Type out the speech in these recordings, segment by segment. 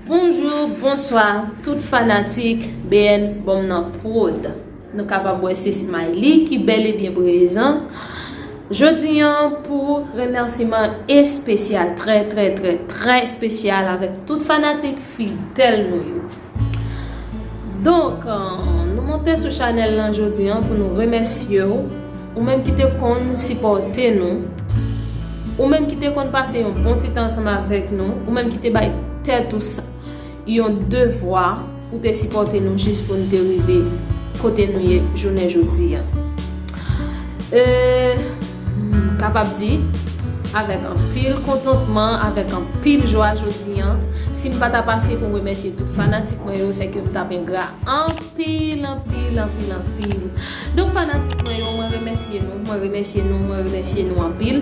Bonjou, bonswa tout fanatik BN Bonm nan prod. Nou kapab wè se Smiley ki bèl e byen prezan. Jodi an pou remèsiman espesyal, trè trè trè trè espesyal avèk tout fanatik fidèl nou yo. Donk nou monte sou chanèl lan jodi an pou nou remèsye w Ou menm ki te konn sipòte nou Ou menm ki te konn pase yon bon ti tan ansanm avèk nou Ou menm ki te bay tèt ou sa yon devwa pou te sipòte nou jis pou nou te rive kote nou ye jounen jodi an Eee M kapab di, avèk anpil kontantman, avèk anpil jwa jodi an, si m pa ta pase pou m remèsye tout fanatik mwen yo, sèke m t ap engra anpil, anpil, anpil, anpil. Donk fanatik mwen yo, mwen remèsye nou, mwen remèsye nou, mwen remèsye nou anpil.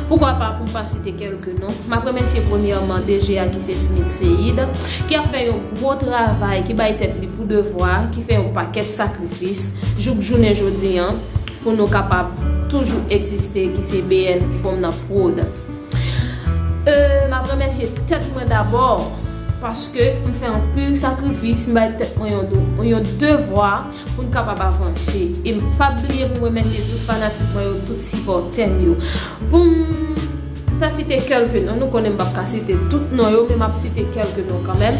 Poukwa pa pou m pa site kèlke non. M ap remèsye premyèman DG a ki se Smith Seïde, ki ap fè yon gwo travay, ki bay tèt li pou devwa, ki fè yon pakèt sakrifis jouk jounen jodi an. Pou nou kapab toujou egziste ki se BN fwom nan prod. Euhh map remèsye tèt mwen dabò paske m fè anpil sakrifis m bay tèt mwen yon devwa poun kapab avanse e m pap bliye pou m remèsye tout fanatik mwen yo tout sipòtèm yo poum M ta site kelke non, nou konnen m pap ka site tout non yo men map site kelke non kanmèm.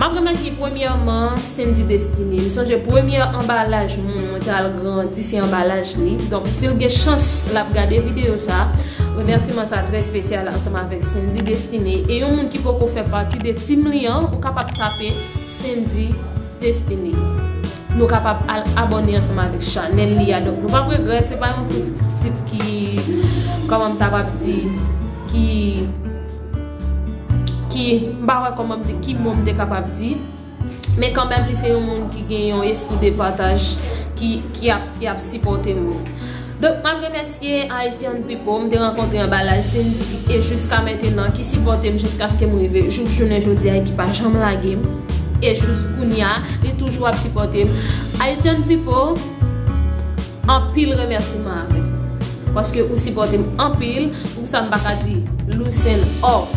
Map remèsye premyèman Sendy Destiny. M sonje premyè anbalaj moun mwen ta al grandi se anbalaj li. Donk si l gen chans lap gade videyo sa, remèsiman sa trè spesyal ansanm avèk Sendy Destiny. E yon moun ki poko fè pati de team li an, ou kapab tape Sendy. Destiny. Nou kapab al abone ansanm avèk chanèl li a donk nou pap regrèt se pa yon tout tit ki kòman m ta pap di ki ki m pa wè kòman m ki mo m te kapab di men kanmèm li se yon moun ki gen yon espri de pataj ki ap sipòte moun. Donk map remèsye Haitian People m te rankontre anba laj Cindy e jiska mentenan ki sipòte m jiskaske m rive jouk jounen jodi e ki pa janm lage m e jous kounya li toujou ap sipòte m Haitian People anpil remèsiman avèk ou paske ou sipòte m anpil pou sa m pa ka di Lucien Or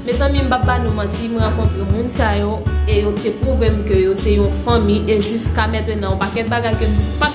mezanmi m pap ba nou manti m rankontre moun sa yo e yo te pwouve m ke yo se yon fanmi e jiska mentenan yon pakèt bagay ke m pat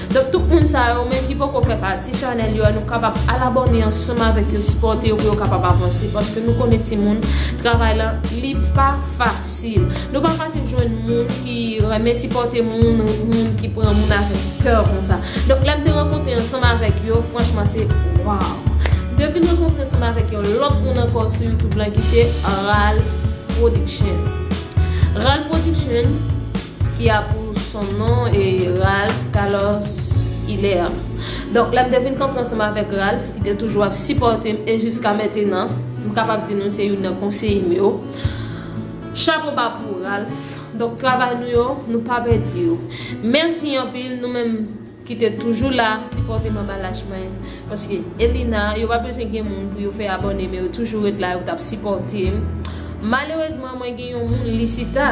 Donk tout moun sa yo men ki poko fè pati chanèl yo a nou kapab al abòne ansanm avèk yo sipòte yo pou yo kapab avanse paske nou konnen timoun travay lan li pa fasil nou pa fasil jwenn moun ki renmen sipòte moun ou moun ki pran moun avèk kè konsa donk lèm te rankontre ansanm avèk yo franchman se waw m te vin rankontre ansanm avèk yon lòt moun ankò sou youtube lan ki se Ralph production Ralph production ki a pou son non e Ralph Carlos Hilaire donk lèm te vin kanpe ansanm avèk Ralph ki te toujou ap sipòtem e jiska mentenan m kapab di nou se youn nan konseyem yo chapo ba pou Ralph donk travay nou yo nou pa pèdi yo mèsi anpil nou menm ki te toujou la sipòte manba lach mwen paske Elina yo pa bezwen gen moun pou yo fè abòne men yo toujou ret la yo tap sipòtem malerezman mwen gen yon moun Lisita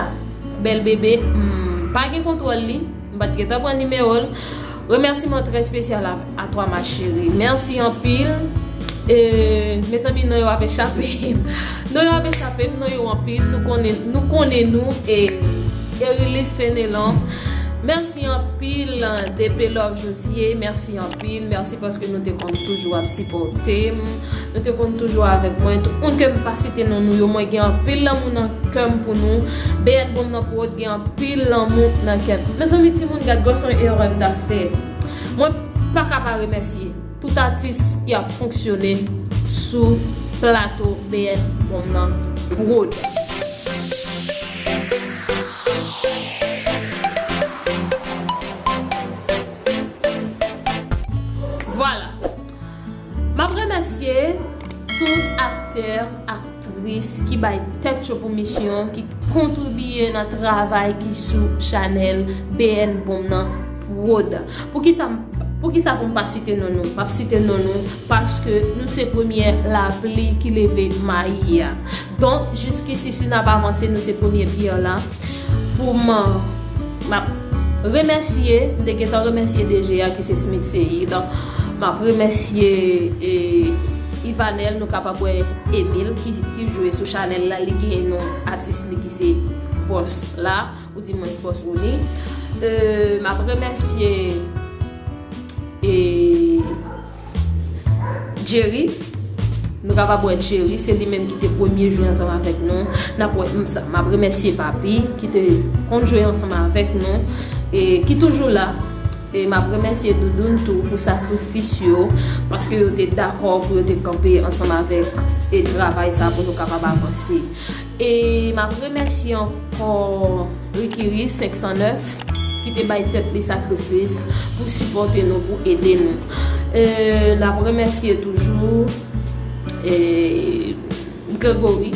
bèl bebe m pa gen kontwòl li m pat gentan pran nimewol remèsiman trè spesyal a twa ma cheri mèsi anpil eeee mezanmi non yo ap echapem non yo ap echapem non yo anpil nou konnen nou e Erilis Fenelon. Merci anpil DP love Josie merci anpil merci paske nou te konn toujou ap sipòtem nou te konn toujou avèk mwen tout moun kem pa site non nou yo mwen gen anpil lanmou nan kèm pou nou Beyèt bonm nan prod gen anpil lanmou nan kèm mezanmi timoun gad gason erèm ta fè mwen paka pa remèsye. Tout atis ki ap fonksyone sou plato BN Bonm nan prod. Vwala! Map remèsye tout aktè ak. tris ki bay tèt yo pou misyon ki kontribiye nan travay ki sou chanèl BNBOM nan prod poukisa m poukisa pou m pa site non nou m ap site non nou paske nou se premyè lapli ki leve mayi a donk jiskisi si n ap avanse nou se premye pyè la. Pou m m ap remèsye, m te gentan remèsye DG a ki se Smith Seïd. M ap remèsye Yvanel, nou kapab wè Emile ki jwe sou chanèl la li gen non atis li ki se Boss la ou di mwens Boss Rony. M ap remèsye e. Jerry, Nou kapab wè Jerry, se li menm ki te premye jwe ansanm avèk nou. N ap wè m sa. M ap remèsye Papi ki te konn jwe ansanm avèk nou e ki toujou la. E m ap remèsye Doudoun tou pou sakrifis yo paske yo te dakò pou yo te kanpe ansanm avèk e travay sa pou nou kapab avanse. E map remèsye ankò Rikiri 509 ki te bay tèt li sakrifis pou sipòte nou, pou ede nou. E nap remèsye toujou Gregory,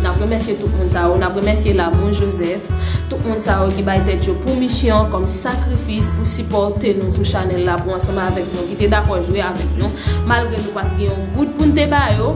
nap remèsye tout moun sa yo, nap remèsye Lamour Joseph, tout moun sa yo ki bay tèt yo pou misyon kòm sakrifis pou sipòte nou sou chanèl la, pou ansanm avèk nou ki te dakò jwe avèk nou, malgre nou pat gen yon goud poun te ba yo.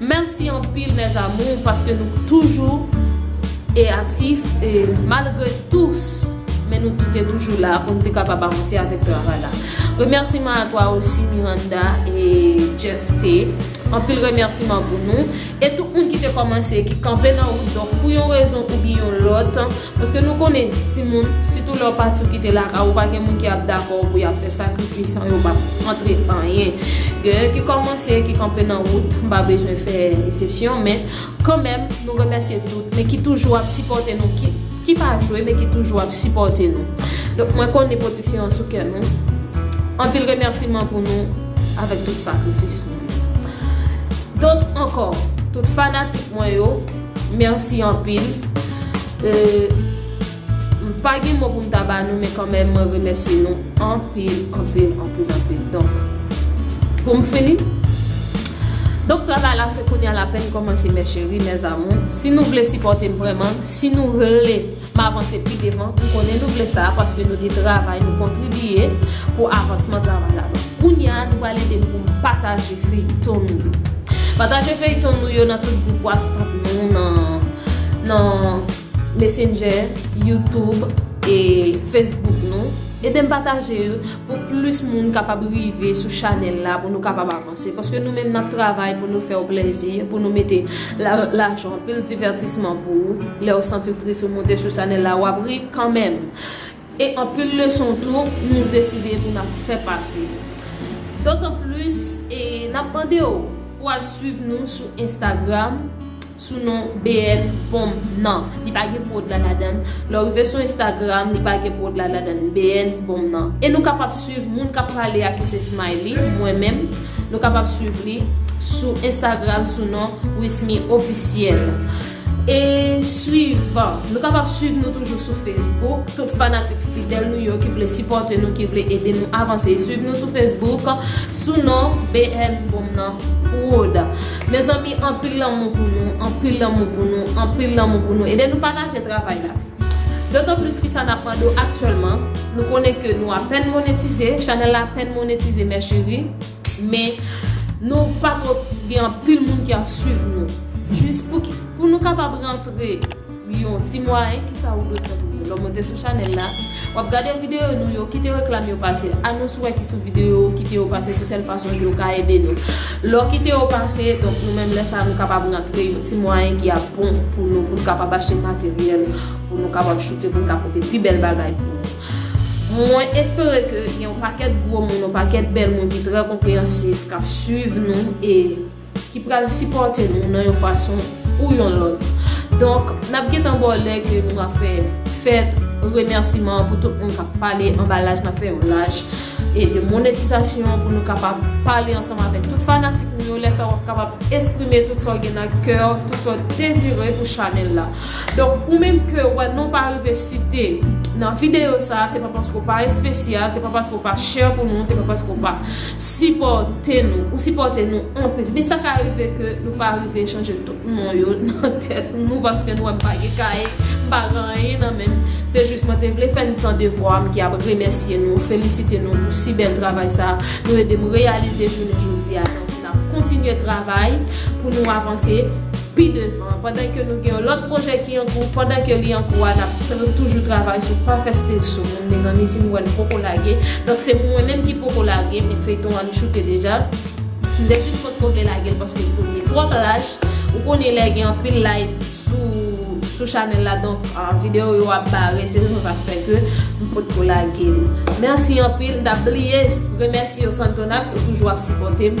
Merci anpil mes amours paske nou toujou eatif e malgre tous men nou toute toujou la poun te kapab avanse avek travay la remerciement a toi aussi Miranda e Jeff T anpil remerciement pou nou e tout moun ki te komanse ki kanpe nan wout donk pou yon rezon oubyen yon lot. Paske nou konnen timoun, sitou lè w pati w kite lakay ou pa gen moun ki ap dakò pou y ap fè sakrifis an yo p ap antre anyen. Gen yon ki kòmanse, ki kanpe nan wout, m pa bezwen fè esepsyon men kanmenm nou remèsye tout men ki toujou ap sipòte nou ki pa jwe men ki toujou ap sipòte nou. Donk mwen konnen pwodiksyon an sou kè nou. Anpil remèsiman pou nou avèk tout sakrifis nou. Donk ankò, tout fanatik mwen yo. Merci anpil euh m pa gen mo pou m ta ba nou men kanmenm mwen remèsye nou anpil anpil anpil anpil donk pou m fini donk travay la se kounya l apèn kòmanse mes cheries mes amours si nou vle sipòte m vrèman si nou vle M avanse pi devan pou konnen nou vle sa paske nou te travay nou kontribiye pou avansman travay la donk kounya nou pral ede m pou m pataje feyton nou yo pataje feyton nou yo nan tout gwoup whatsapp nou nan messenger youtube e facebook nou ede m pataje yo pou plis moun kapab rive sou chanèl la pou nou kapab avanse. Se paske nou menm nap travay pou nou fèw plèzi, pou nou mete lajan anpil divètisman pou ou, lèw santiw tris ou moute sou chanèl la wap ri kanmenm e anpil leson tou nou deside pou nap fè pase dotan plis e nap mandew pou al swiv nou sou Instagram. sou non BN pom nan li pa gen prod la ladann lèw rive sou Instagram li pa gen prod la ladann BN pom nan e nou kapab swiv moun kap pale a ki se Smiley mwen menm nou kapab swiv li sou Instagram sou non Wismy officiel e swiv nou kapab swiv nou toujou sou Facebook tout fanatik fidèl nou yo ki vle sipòte nou ki vle ede nou avanse swiv nou sou Facebook sou non BN pom nan prod. Mezanmi anpil lanmou pou nou anpil lanmou pou nou anpil lanmou pou nou ede nou pataje travay la dotan plis kisa nap mande w aktyèlman nou konnen ke nou apèn monetize chanèl la apèn monetize mè cheri men nou pa twòp gen anpil moun ki ap swiv nou jis pou nou kapab rantre Yon ti mwayen kisa ou dwe fè pou yo lè w monte sou chanèl la wap gade videyo nou yo kite reklam yo pase anons ou wè ki sou videyo kite yo pase se sèl fason ke ou ka ede nou lè w kite yo pase donk nou menm lè sa nou kapab rantre yon ti mwayen ki ap bon pou nou pou nou kapab achte materyèl pou nou kapab choute pou nou ka pote pi bèl bagay pou nou mwen espere ke gen yon pakèt gwo moun yon pakèt bèl moun ki trè konpreyansif kap swiv nou e. Ki pral sipòte nou nan yon fason ou yon lòt. Donk, n ap gentan ba w lè ke nou va fè fèt remèsiman pou tout moun k ap pale anba laj, n ap fè yon laj e de monetizasyon pou nou kapab pale ansanm avèk tout fanatik nou yo. Lè sa a w ap kapab esprime tout sa w gen nan kè w, tout sa w dezire pou chanèl la. Donk, ou menm ke ou wè non w pa rive site nan videyo sa a, se pa paske w pa espesyal, se pa paske w pa chè pou nou, se pa paske w pa. Sipòte nou. Ou sipòte nou anpil. Men sa ka rive ke nou pa rive chanje tout non yo nan tèt nou paske nou wè m pa gen kaye, m pa gen anyen nan men m. Se jis mwen te vle fè n tan devwa m ki ap remèsye nou, felisite nou pou si bèl travay sa nou ede m reyalize jounen jodi a. Donk n ap kontinye travay pou nou avanse. Pi devan, pandan ke nou gen yon lòt pwojè ki an kou, pandan ke li an kou a, nap toujou travay sou pa fè stil sou moun mezanmi si nou wè nou poko lage, donk se pou mwen menm ki poko lage men feyton an li choute deja, m te jis potko vle lage l paske li te vin twòp lach, ou konnen lè gen anpil live sou chanèl la donk video yo ap bare se rezon sa k fè ke m potko lage l. Mèsi anpil, m tap bliye remèsye w Santonax ou toujou ap sipòte m.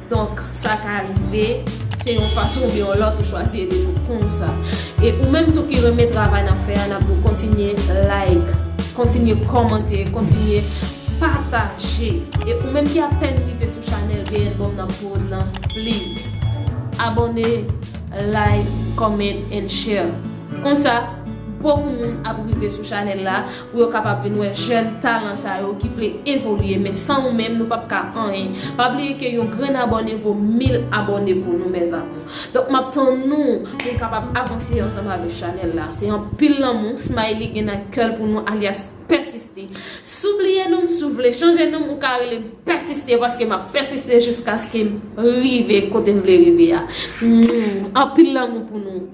Donk, sa ka rive, se yon fason oubyen yon lòt ou chwazi ede pou konw sa. E ou menm tou ki renmen travay nap fè a, nap di w kontinye like, kontinye kòmante, kontinye pataje. E ou menm ki apèn rive sou chanèl BNBOM Nan Prod lan, please abòne, like, comment and share. Konsa, bokou moun ap rive sou chanèl la. pou yo kapab vin wè jèn talan sa yo ki vle evolye men san ou menm nou pap ka anyen pa bliye ke yon grenn abòne vo mil abòne pou nou mes amour donk map tann nou pou nou kapab avanse ansanm avèk chanèl la se anpil lanmou smiley gen nan kèl pou nou alyas pèsiste si w bliye nou m si w vle chanje nou m ou ka rele m pèsiste paske map pèsiste jiskaskem rive kotem vle rive a anpil lanmou pou nou.